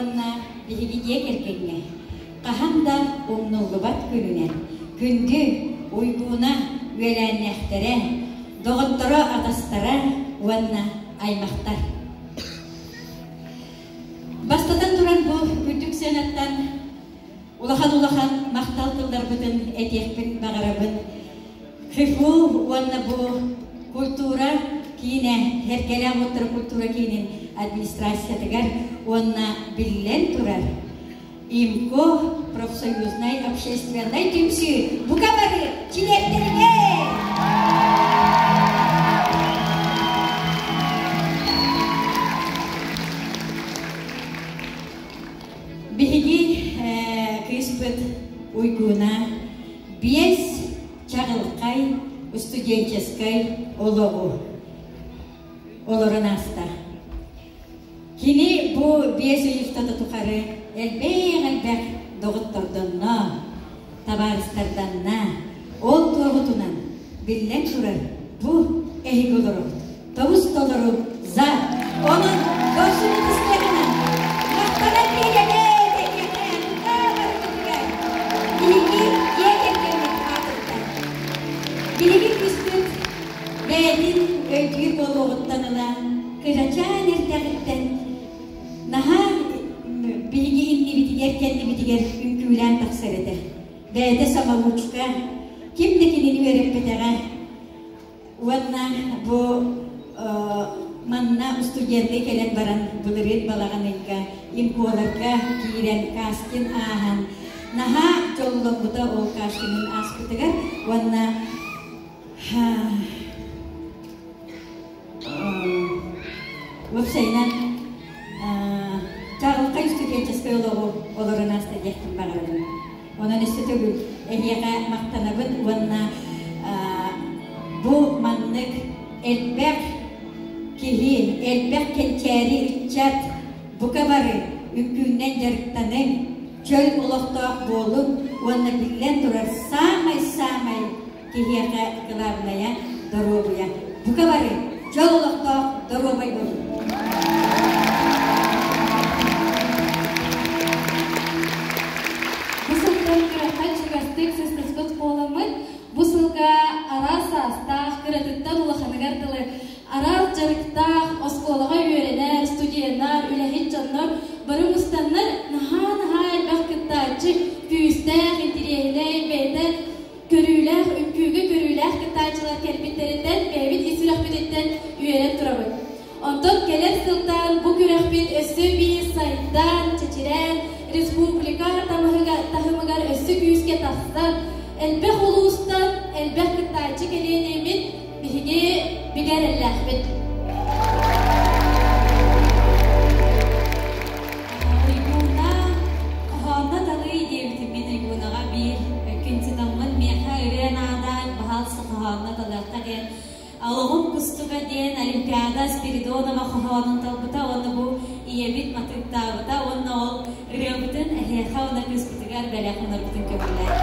уонна биһигидиэ кэргэҥҥэ хаһан да умнуллубат күнүнэн күндү уйгууна үөлээннээхтэрэ доҕотторо атастара уонна аймахтар бастатан туран бу үрдүк сыанаттан улахан-улахан махтал тылларбытын этиэхпин баҕарабын. ХИФУ уонна бу культура киинэ Эркэлээх уоттара культура киинин администрациятыгар уонна биллэн турар ИМКО профсоюзнай общественнай түмсүү бука бары чилиэттэригэр Биһиги кыыспыт Уйгуна биэс чаҕылхай устуденческай олоҕу олорон ааста. Кини бу биэс ый устата тухары элбэх-элбэх доҕоттордонно, табаарыстарданна. Ол туоһутунан, биллэн турар, бу эһиги олоро тобус-толору за. Онон көрсүбүт истэҕинэн махтанан тиийэҥэ тэтиэхтэһэн таабыргыгар биһиги дьиэ кэргэҥҥит аатыттан билигин кыстык бэйэтин өйдүүр буолуоҕуттан ыла кырачаан эрдэҕиттэн Наһаа биһиги иннибитигэр кэннибитигэр үҥкүүлээн тахсар этэ. Бэйэтэ самолучка, ким да кинини үөрэппэтэҕэ. Уонна бу манна устудьуоннай кэлэн баран былырыын балаҕаныйга имполарга киирэн кастин ааһан наһаа дьолломмута ол кастиҥын ааспытыгар уонна Уопсайынан Каалка историческай олоҕу олорон ааста диэхпин баҕарабын. Онон өссө төгүл эһиэхэ махтанабын уонна бу маннык элбэх киһи, элбэх кэнчээри ыччат бука бары үҥкүүнэн дьарыктаныҥ, чөл олохтоох буолуҥ уонна биллэн турар, саамай-саамай киһиэхэ кылаабынайа, доруобуйа. Бука бары дьол олохтоох доруобай буолуҥ! Бу сылтан кыратан чугастык сыстыспыт буоламмыт, бу сылга араас саастаах, кыратыттан улаханыгар дылы араас дьарыктаах, оскуолаҕа үөрэнэр, студеннар, үлэһит дьоннор бары мустаннар, наһаа-наһаа элбэх кыттааччы, күүстээх, интириэһинэй, бэйэтэ көрүүлээх, үҥкүүгэ көрүүлээх кыттааччылар кэлбиттэриттэн, бэйэбит ис сүрэхпититтэн үөрэн турабыт. Онтон кэлэр сылтан бу күрэхпит өссө биир сайдан, чэчирээн, республика таһымыгар, таһымыгар өссө күүскэ тахсан, элбэх улуустан, элбэх кыттааччы кэлиэн имин Биһиги бигэ эрэллээхпит. Трибуна, хоһоонно талыы диэбитиммит трибунаҕа биир күнситаммын миэхэ ырыа наада, баһаалса хоһоонно талыахха диэн Алоҕум кустуга диэн Олимпиада Спиридонова хоһоонун талбыта уонна бу ийэбит матыктаабыта уонна ол ырыабытын эһиэхэ уонна кыыспытыгар бэлэх гынарбытын көбүлээтэ.